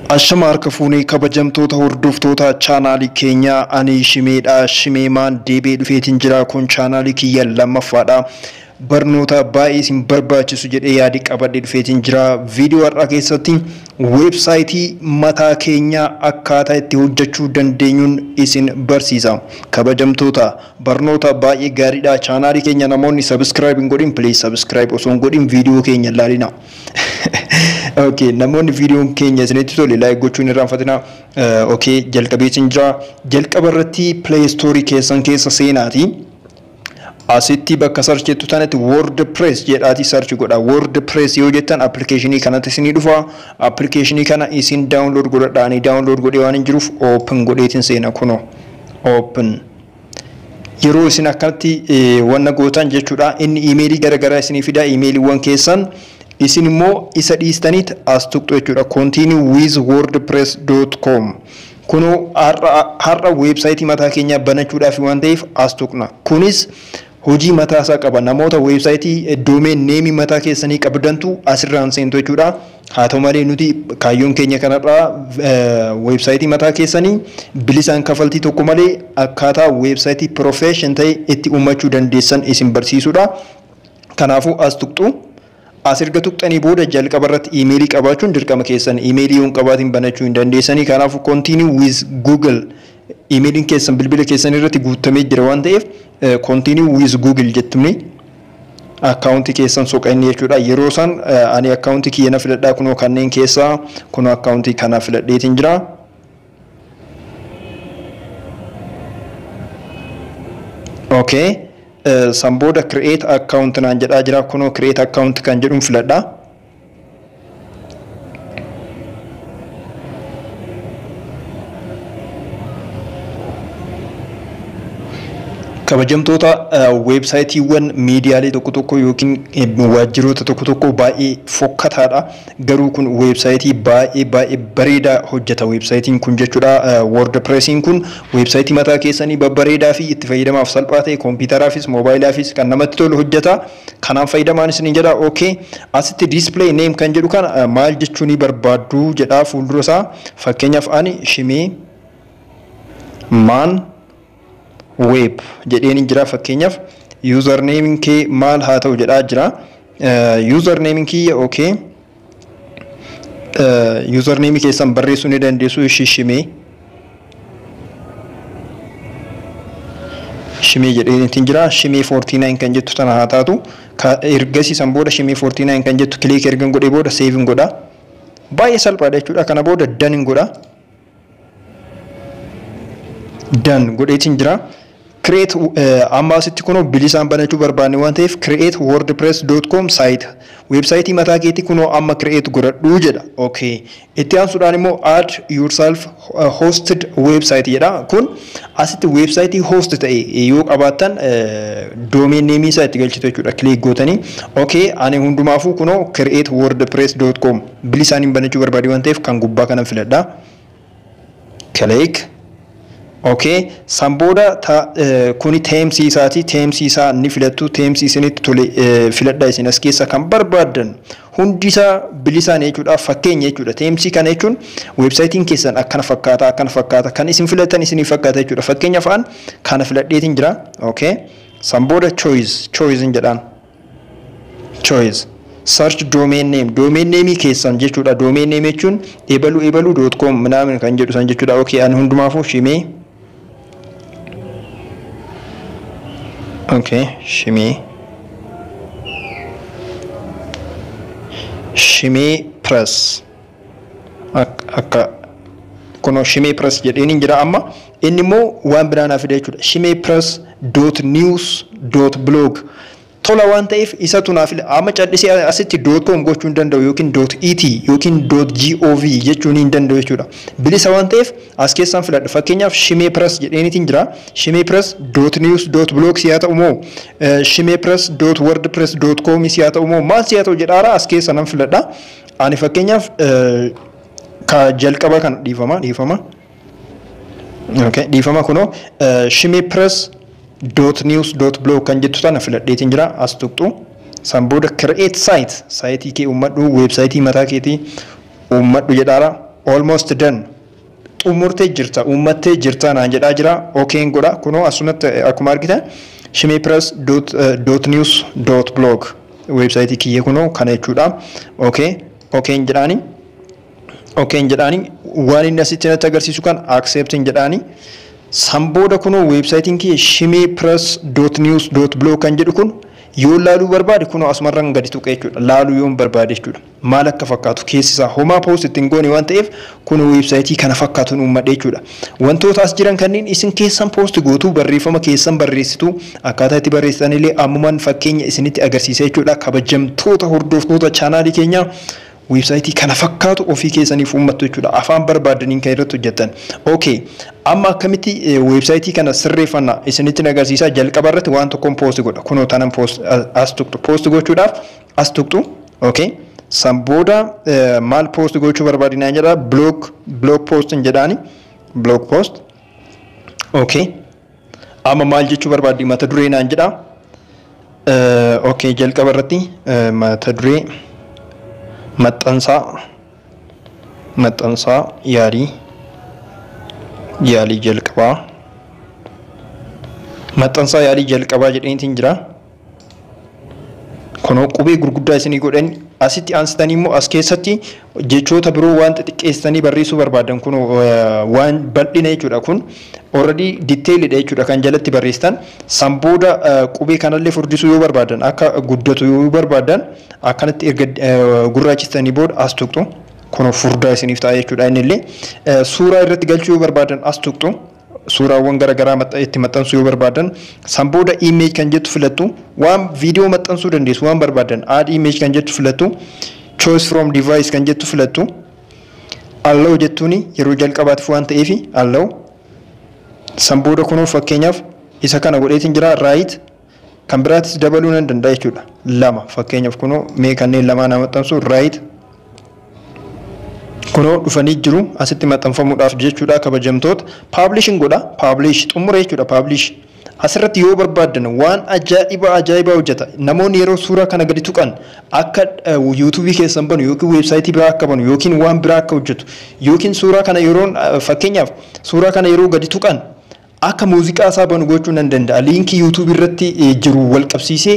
Ashama harka fuunee kabajamtoota hordoftoota chaanaalii keenyaa ani shimeedha shimeemaan deebee dhufeetiin jira kun chaanaalii kiyya lammaffaadha barnoota baay'ee isin barbaachisu jedhee yaadi qabadhe dhufeetiin jira viidiyoo har'aa keessatti weebsaayitii mataa keenyaa akkaataa itti hojjechuu dandeenyuun isin barsiisa kabajamtoota barnoota baay'ee gaariidha chaanaalii keenya namoonni sabiskiraayib hin godhin pilees sabiskiraayib osoo hin godhin viidiyoo keenya ilaalina. Okay, namoonni viidiyoon keenya isinitti tole like gochuun irraanfatina. Okay, jalqabee isin jira. Jalqaba irratti play store keessan keessa seenaati. Asitti bakka search jettu tanatti WordPress jedhaati search godha. WordPress yoo jettan applicationii kanatti isinii dhufa. Applicationii kana isin download godhadha. Ani download godhee waan hin jiruuf open godheetin seena kuno. Open. yeroo isin akkanatti wanna gootan jechuudha inni iimeelii gara garaa isinii fidaa iimeeliiwwan keessan isin immoo isa dhiistaniit as tuqxu jechuudha continue with wordpress.com kunoo har'a weebsaayitii mataa keenyaa banachuudhaaf waan ta'eef as tuqna kunis hojii mataa isaa qaba. Namoota website domain name mataa keessanii qabdantu asirraan seentu jechuudha. Haa ta'u malee nuti kaayyoon keenya kanarraa website mataa keessanii bilisaan kafaltii tokko malee akkaataa website profession ta'e itti uummachuu dandeessan isin barsiisudha. Kanaafuu as tuqxu. As erga tuqxanii booda jalqaba irratti iimeelii qabaachuun dirqama keessan. Iimeelii yoo hin qabaatiin banachuu hin dandeessanii. Kanaafuu continue with google iimeeliin keessan bilbila keessan irratti guuttamee jira waan ta'eef continue with google jettumni akkaawuntii keessan soqa inni jechuudha. Yeroo san ani akkaawuntii kiyya na filadhaa kunoo kanneen keessaa kunoo akkaawuntii kana filadheetiin jira. Okay. Eh, San booda create account naan jedhaa jira. Kunoo create account kan jedhuun filadha. Kabajamtoota eh, weebsaayitiiwwan miidiyaalee tokko tokko yookiin eh, waajjiroota tokko tokko baay'ee fokkataadha. Garuu kun website baay'ee baay'ee bareeda hojjeta website kun jechuudha wordpress kun website mataa keessanii babbareedaa fi itti fayyadamaaf salphaa ta'e kompiitaraafis moobaayilaafiis kan namatti tolu hojjeta kanaan fayyadamaan isiniin jedha ok asitti display name kan jedhu kana maal jechuu ni barbaaddu jedha fuuldura isaa fakkeenyaaf ani shimee maan web jedheen jira fakkeenyaaf username kee maal haa ta'u jedhaa jira username kiyya okay username keessan barreessuu ni dandeessu shishimee shimee jedheenittiin jira shimee 49 kan jettu tana haa taatu ergasii san booda shimee 49 kan jettu kiliik ergan godhee booda seevin godha baay'ee salphaadha jechuudha kana booda danin godha dan godheetiin jira. Create amma asitti kunoo bilisaan banachuu barbaanne waan ta'eef create wordpress.com site weebsaayitii mataa keetii kunoo amma create godhadhuu jedha. Okay. Itti aansuudhaan immoo add yourself hosted website jedha. Kun asitti weebsaayitii host ta'e yoo qabaattan domain name isaa itti galchitu jechuudha. Click gootanii okay ani hundumaafuu kunoo create wordpress.com bilisaaniin banachuu barbaadee waan ta'eef kan gubbaa kanan filadha. Click. Okay. San booda ta, eh, kuni teemsii isaati. Teemsii isaa ni filattu. Teemsii isinitti tole eh, filadha isin as keessa kan barbaaddan hundi isaa bilisaan jechuudha. Fakkeenya jechuudha. Teemsii kana jechuun weebsaayitiin keessan akkana fakkaata akkana fakkaata kan isin filatan isinii fakkaata jechuudha. Fakkeenyaaf an kana filadheetiin jira. Okay. San booda choice choice hin jedhaan. choice search domain name domain name keessan jechuudha domain name jechuun ebalu ebalu dot com minaamin kan jedhu san jechuudha okay ani hundumaafuu shimee okay shimee shimee press akka kunoo shimee press jedheeniin jira amma inni immoo waan biraa naa fida jechuudha shimee press dot news dot blog tola waan ta'eef isatu naa fila amma callisee asitti dot com gochuu hin danda'u yookiin dot et yookiin dot gov jechuun hin danda'u jechuudha bilisa waan ta'eef as keessaan filadha fakkeenyaaf shimee press jedheeniitiin jira shimee press dot news dot blog siyaa ta'u moo shimee press dot wordpress dot com siyaa ta'u moo maal siyaa ta'u jedhaara as keessa nan filadha Ani fakkeenyaaf ka jalqaba kana dhiifama dhiifama okay, dhiifama kunoo shimee press dot news dot blog kan jettu tana filadheetiin jira as tuqxu san booda create site saayitii kee uummadhu weebsaayitii mataa keetii uummadhu jedhaara almost done Xumurtee jirta, uummattee jirta naan jedhaa jira. Okn godha. Kunoo asumatti akkuma argitan shimeepress dot dot news dot blog weebsaayitii kiyya kunoo kana jechuudha. Ok okn jedhaani okn jedhaani waan inni asitti natti agarsiisu kan acceptin jedhaani. San booda kunoo weebsaayitiin kiyya shimeepress dot news dot blog kan jedhu kun yoo laaluu barbaade kunoo asumarran gadi tuqee jechuudha. Laaluu yoon barbaade jechuudha. maal akka fakkaatu keessi isaa homaa post itti hin goone waan ta'eef kun weebsaayitii kana fakkaatu hin uummadhe jechuudha. Wantoota as jiran kanneen isin keessan post gootu barreeffama keessan barreessitu akkaataa itti barreessitan illee ammumaan fakkeenya isinitti agarsiisa jechuudha. Kabajamtoota hordoftoota chaanaalii keenyaa weebsaayitii kana fakkaatu ofii keessaniif uummattu jechuudha. Afaan barbaadaniin kan irratti hojjettan. Okay. Amma akkamitti weebsaayitii kana sirreeffanna isinitti agarsiisaa jalqaba irratti waan tokkoon post godha. Kunoo tanan post as tuqxu post gochuudhaaf as tuqxu ok san booda maal post gochuu barbaadi naan jedha blog blog post hin jedhaani blog post ok amma maal jechuu barbaaddi mata duree naan jedha ok jalqaba irratti mata duree maxxansaa maxxansaa yaalii yaalii jalqabaa maxxansaa yaalii jalqabaa jedhaniitiin jira. Kunoo qubee gurguddaa isinii godheen asitti aansitanii immoo as keessatti jechoota biroo waan xixiqqeessitanii barreessuu barbaadan kun waan bal'ina jechuudha kun already detailidha jechuudha kan jalatti barreessitan san booda qubee kanallee furdisuu yoo barbaadan akka guddatu yoo barbaadan akkanatti erga gurraachistanii booda as tuqxu kun furdaa isiniif ta'a jechuudha innillee suuraa irratti galchuu yoo barbaadan as tuqxu suuraawwan gara garaa maxxa- itti maxxansuu yoo barbaadan san booda image kan jettu filattu waan viidiyoo maxxansuu dandeessu waan barbaadan add image kan jettu filattu choice from device kan jettu filattu allow jettuuni yeroo jalqabaatiif waan ta'eef allow san booda kunoo fakkeenyaaf isa kana godheetiin jira right Kan biraatis dabaluu nan danda'a jechuudha. Lama fakkeenyaaf kunoo mee kanneen lamaan haa maxxansu right kunoo dhufanii jiru asitti maxxanfamuudhaaf jechuudha kabajamtoota paablishin godha paablish xumure jechuudha paablish asirratti yoo barbaaddan waan ajaa'ibaa ajaa'ibaa hojjeta namoonni yeroo suuraa kana gadi tuqan akka yuutuubii keessan banu yookiin weebsaayitii biraa akka banu yookiin waan biraa akka hojjetu yookiin suuraa kana yeroo fakkeenyaaf suuraa kana yeroo gadi tuqan Akka muuziqaa isaa banu gochuu nan danda'a. Liinkii YouTube irratti jiru wal qabsiisee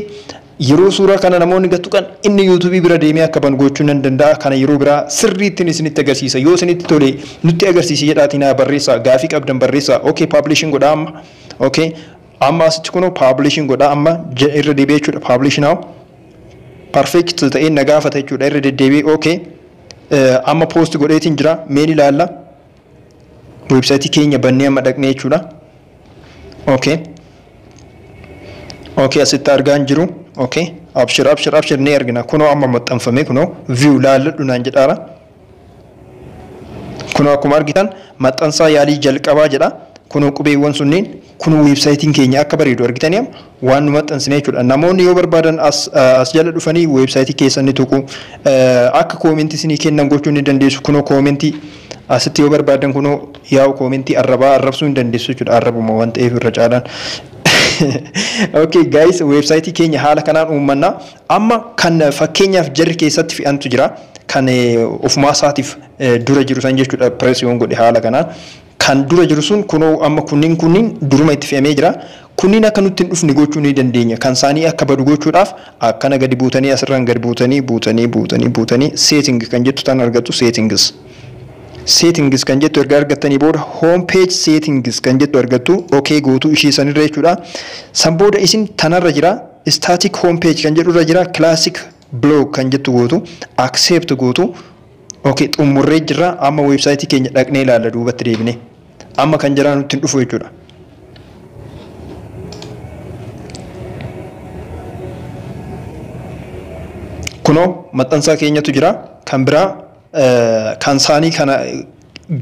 yeroo suuraa kana namoonni gad tuqan inni YouTube bira deemee akka banu gochuu nan danda'a. Kana yeroo biraa sirriittiin isinitti agarsiisa. Yoo isinitti tole nutti agarsiisi jedhaatii naa barreessaa. Gaafii qabdan barreessaa. Okay publishing godhaa amma. Okay amma asitti kunoo publishing godhaa amma irra deebi'ee jechuudha publish now. Perfect ta'ee na gaafata jechuudha irra deddeebi'ee okay. Amma post godheetiin jira meen ilaalla. website keenya bannee amma dhaqnee jechuudha okay okay asitti argaa hin jiru okay abshir abshir abshir ni argina kunoo amma maxxanfame kunoo view laalladhu naan jedhaara kunoo akkuma argitan maxxansaa yaalii jalqabaa jedha kunoo qubeewwan sunniin Kun website keenya akka bareedu argitanii amma waan nu maxxansine jechuudha. Namoonni yoo barbaadan as as jala dhufanii website keessan ni tuqu. Akka comment isinii kennan gochuu ni dandeessu. Kunoo comment asitti yoo barbaadan kunoo yaa'u comment arrabaa arrabsuu hin dandeessu jechuudha. Arrabuma waan ta'eef irra caalaan. Okay guys website keenya haala kanaan uummanna. Amma kan fakkeenyaaf jarri keessatti fe'antu jira. Kan ofumaa isaatiif dura jiru san jechuudha press yoon godhe haala kanaan. Kan dura jiru sun kunoo amma kunniin kunniin duruma itti fe'amee jira. Kunniin akka nutti hin dhufne gochuu ni dandeenya. Kan isaanii akka badu gochuudhaaf akkana gadi buutanii asirraan gad buutanii buutanii buutanii buutanii setting kan jettu tan argattu settings. Settings kan jettu erga argattanii booda home page settings kan jettu argattu ok gootuu ishii sanirra jechuudha. San booda isin tanarra jira static home page kan jedhurra jira classic blog kan jettu gootu accept gootu Ok xummurree jirra amma website keenya dhaqnee ilaalla duubatti deebinee amma kan jalaa nutti hin dhufu jechuudha. Kunoo maxxansaa keenyatu jira kan biraa kan saanii kana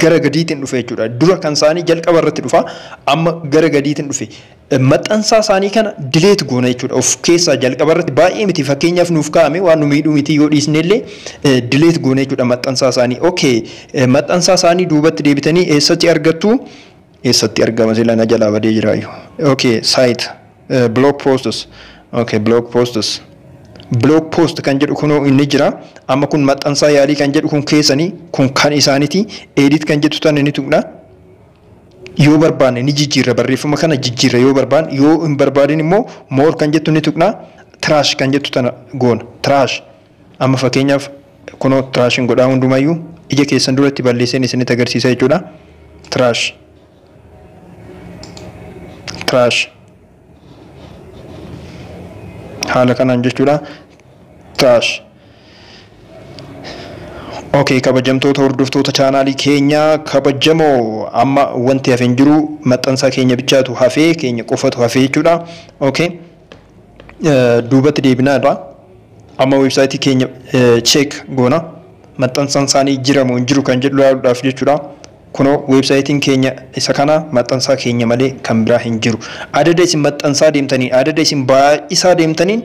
gara gadiitiin dhufe jechuudha. Dura kan saanii jalqaba irratti dhufa amma gara gadiitiin dhufe maxxansaa isaanii kana dileet goona jechuudha. Of keessaa jalqaba irratti baay'ee miti fakkeenyaaf nuuf kaa'ame waan nu miidhuu miti yoo dhiisne illee dileet goona jechuudha maxxansaa isaanii. Okay maxxansaa isaanii duubatti deebitanii eessatti argattu? Eessatti argama sila na jalaa badee jiraayu. Okay site blog posts okay blog posts blog post kan jedhu kunoo inni jira amma kun maxxansaa yaalii kan jedhu kun keessanii kun kan isaaniti edit kan jettu tan inni tuqna Yoo barbaanne ni jijjiirra barreeffama kana jijjiirra yoo barbaanne yoo hin barbaadin immoo more kan jettu ni tuqna trash kan jettu tana goona trash amma fakkeenyaaf kunoo trash hin godhaa hundumayyuu ija keessan duratti balleesseen isinitti agarsiisa jechuudha trash trash haala kanaan jechuudha taash ok kabajamtoota hordoftoota chaanaalii keenya kabajamoo amma wanti hafe hin jiru maxxansaa keenya bichaatu hafee keenya qofatu hafee jechuudha ok duubatti deebinaa irraa amma weebsaayitii keenya cheek goona maxxansaan isaanii jiramoo hin jiru kan jedhu ilaaluudhaaf jechuudha. Kunoo website'n keenya isa kana, maxxansaa keenya malee kan biraa hin jiru. Adada isin maxxansaa deemtaniin, adada isin baay'isaa deemtaniin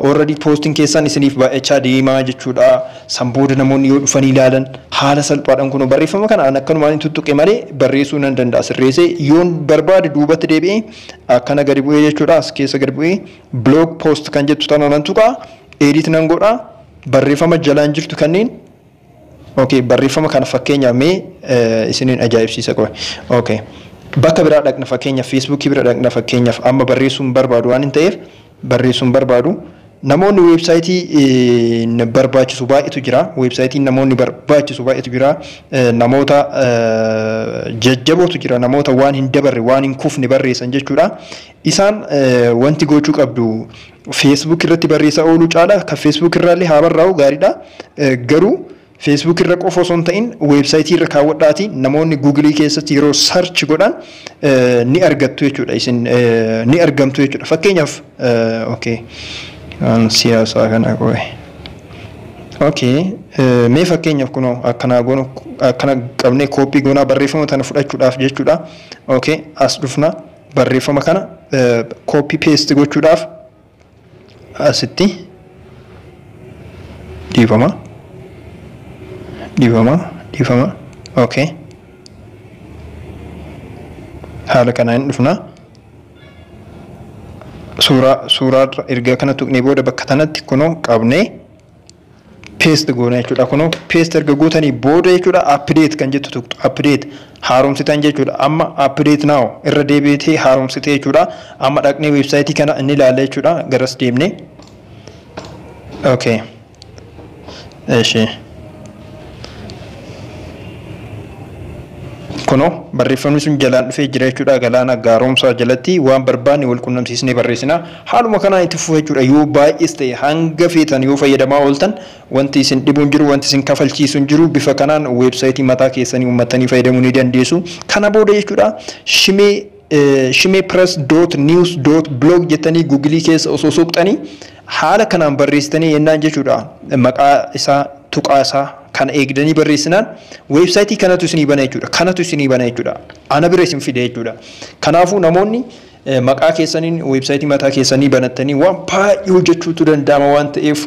already poost'n keessan isiniif baay'achaa deema jechuudha. San booda namoonni yoo dhufanii ilaalan haala salphaadhaan kunoo barreeffama kana an akkanumaan tuttuqe malee barreessuu nan danda'a sirreessee yoon barbaade duubatti deebi'ee akkana gadi bu'ee jechuudha as keessa gadi bu'ee blog post kan jettu tana nan tuqa edit nan godha barreeffama jalaan jirtu kanneen Ok barreeffama kana fakkeenyaaf mee isiniin ajaa'ibsiisa qoy. Ok bakka biraa dhaqna fakkeenyaaf Facebook bira dhaqna fakkeenyaaf amma barreessuu hin barbaadu waan hin ta'eef barreessuu hin barbaadu. Namoonni weebsaayitii barbaachisu baay'eetu jira. Weebsaayitiin namoonni barbaachisu baay'eetu jira. Namoota jajjabootu jira. Namoota waan hin dabarre waan hin kufne barreessan jechuudha. Isaan wanti gochuu qabdu Facebook irratti barreessaa ooluu caalaa kan Facebook irraallee haa barraa'u gaariidha. Garuu Facebook irra qofa osoo hin ta'in weebsaayitii irra kaawwadhaatii namoonni Google keessatti yeroo search godhan ni argattu jechuudha. Isin ni argamtu jechuudha. Fakkeenyaaf okay siyaasaa kana qoe. Okay mee fakkeenyaaf kunoo akkanaa goonu akkana qabnee kooppii goonaa barreeffama tana fudhachuudhaaf jechuudha. Okay as dhufna. Barreeffama kana copy paste gochuudhaaf asitti dhiifama dhiifama dhiifama okay haala kanaa hin dhufna suuraa suuraa erga kana tuqnee booda bakka tanatti kunoo qabnee paste goona jechuudha kunoo paste erga gootanii booda jechuudha update kan jettu tuqxu update haaromsitan jechuudha amma update now irra deebi'ee haaromsitee jechuudha amma dhaqnee website kana inni ilaalla jechuudha garas deemnee okay eshi Kunoo barreeffamni sun jalaan dhufee jira jechuudha. Galaana gaaromsaa jalatti waan barbaanne wal qunnamsiisnee barreessina. Haaluma kanaan itti fufa jechuudha. Yoo baay'ees ta'e hanga feetan yoo fayyadamaa ooltan wanti isin dhibu hin jiru, wanti isin kafalchiisu hin jiru. Bifa kanaan weebsaayitii mataa keessanii uummattanii fayyadamuu ni dandeessu. Kana booda jechuudha shimee Shimepress dot news dot blog jettanii gugilii keessa osoo soqxanii haala kanaan barreessitanii yennaan jechuudha maqaa isaa tuqaa isaa kana eegdanii barreessinaan weebsaayitii kanatu isinii bana jechuudha kanatu isinii bana jechuudha ana bira isin fide jechuudha kanaafuu namoonni maqaa keessaniin weebsaayitii mataa keessanii banattanii waan baay'ee hojjechuutu danda'ama waan ta'eef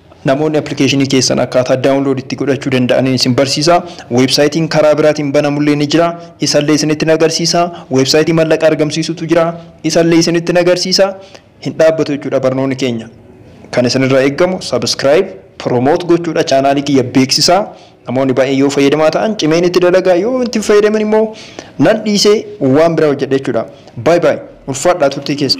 Namoonni application keessan akkaataa download itti godhachuu danda'aniin isin barsiisa. Website karaa biraatiin banamullee ni jira. Isallee isinitti hin agarsiisa. Website mallaqa argamsiisutu jira. Isallee isinitti hin agarsiisa. Hin dhaabbatu jechuudha barnoonni keenya. Kan isinirraa eeggamu subscribe, promote gochuudha chaanaalii kiyya beeksisaa. Namoonni baay'een yoo fayyadamaa ta'an cimeen itti dalagaa yoo itti hin fayyadamin immoo nan dhiisee waan biraa hojjedha jechuudha. Baay baay ulfaadhaa turtii keessa.